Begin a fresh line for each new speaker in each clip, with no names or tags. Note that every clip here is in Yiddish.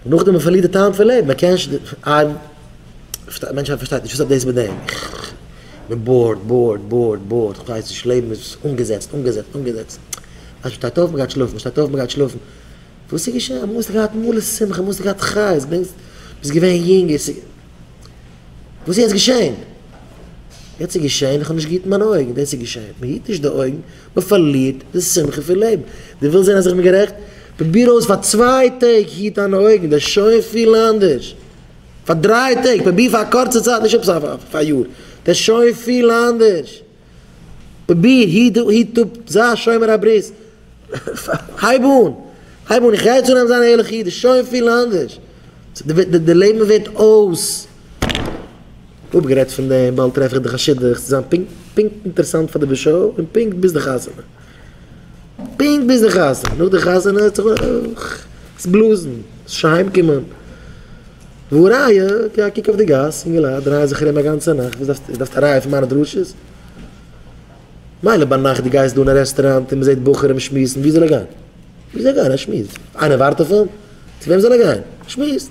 נאכדעם מען פארלירט די טעם פון לעבן, מען קען נישט די מענטשהייט פארשטייט נישט וואס האט דאס מיט דעם, מען בארד בארד בארד בארד, איך ווייס נישט, לעבן איז אנגעזעצט אנגעזעצט אנגעזעצט, אז מען שטייט אויף מען גייט שלאפן, מען שטייט אויף מען גייט שלאפן, וואס איז געשען, אמאל האסטו געהאט מלא שמחה, אמאל האסטו געהאט חיות, ביסט געווען יונג, יעצט איז, וואס איז יעצט געשען, יעצט איז געשען איך האב נישט געהיטן מיינע אויגן, דאס איז געשען, מען היט נישט די אויגן, מען פארלירט די שמחה פון לעבן. דו ווילסט זען אז איך בין גערעכט? פרוביר אויס פאר צוויי טעג, היט דיינע אויגן, דאס איז שוין פיל אנדערש. פאר דריי טעג, פרוביר פאר א קורצע צייט, נישט עפעס פאר א יאר, דאס איז שוין פיל אנדערש. פרוביר, היט אפ, זיי שומר הברית, הייב אן, הייב אן, איך רייץ אן אז מען זאל זיין ערליכע אידן, דאס איז שוין פיל אנדערש. די לעבן ווערט אויס. אפגערעדט פון דעם, באלד טרעף איך די חשדות צו זיין פונקט פונקט אינטערעסאנט פאר די בשו א און פונקט ביז די חתונה. פונקט ביז די חתונה, נאך די חתונה האט זיך עס בלאזן, עס נישט אהיים קומען. והא ראיה, טו א קוק אויף די גאס, אינגעלייט דרייען זיך ארום א גאנצע נאכט, וואס דארפסטו, דארפסטו א ראיה פון מיינע דרשות? מילא ביינאכט דו גייסט דא אין א רעסטוראנט און מען זעט בחורים שמועסן, וואו זאל ער גיין? וואו זאל ער גיין? ער שמועסט. איינער ווארט אויף אים? צו וועם זאל ער גיין? ער שמועסט.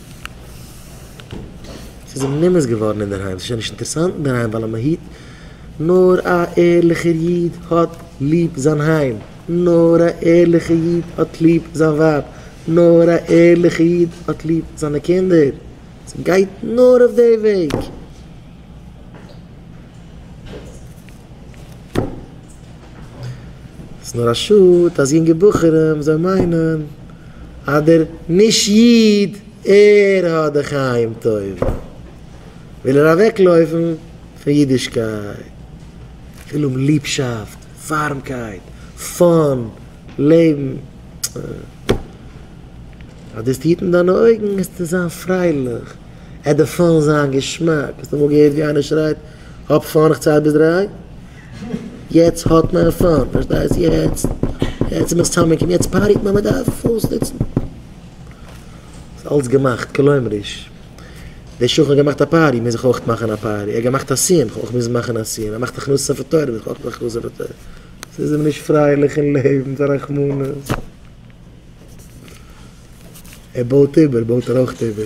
ס'איז אים נמאס געווארן אינדערהיים, ס'איז שוין נישט אינטערסאנט אינדערהיים ווייל א מהיט, נאר א ערליכער איד האט ליב זיין היים, נאר א ערליכער איד האט ליב זיין ווייב, נאר א ערליכער איד האט ליב זיינע קינדער, ס'גייט נאר אויף די וועג. ס'איז נאר א שאד אז יונגע בחורים זאלן מיינען אז דער נישט איד ער האט די חיים טובים וויל ער אוועקלויפן פון אידישקייט, וויל האבן ליבשאפט, ווארעמקייט, פאן, לעבן, אז דאס טוט אין דיינע אויגן וועסטו זיין פרייליך, ער דערפאן זיין געשמאק, האסט אמאל געהערט ווי איינער שרייט. האב פאן איך צייט ביז דריי יעצט האט מען פאן פארשטייסט יעצט יעצט איז מען סאמע קעמפ יעצט פארטיט מען מען דארף אויסנוצן ס'איז אלץ געמאכט כלומר'יש דער שכן האט געמאכט א פארטי מוז איך אויך מאכן א פארטי ער האט געמאכט א סיום איך אויך מוז מאכן א סיום ער מאכט הכנסת ספר תורה מוז איך אויך מאכן הכנסת ספר תורה ס'איז מען נישט פרייליך אין לעבן פאר רחמנות ער בויט איבער בויט ער אויך איבער.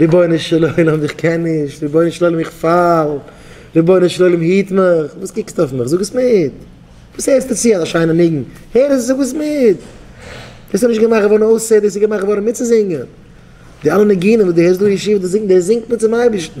רבונו של עולם איך קען נישט, רבונו של עולם איך פאל, רבונו של עולם היט מיך, וואס קוקסטו אויף מיך, זאג עס מיט, וואס הערסטו צו אזא שיינע ניגון, הער עס, זאג עס מיט, דאס איז נישט געמאכט געווארן אויס סעדעס, ס'איז געמאכט געווארן מיטצוזינגען, די אלע ניגונים וואס דו הערסט דא אין ישיבה, דאס זינגט מען צום אייבערשטן.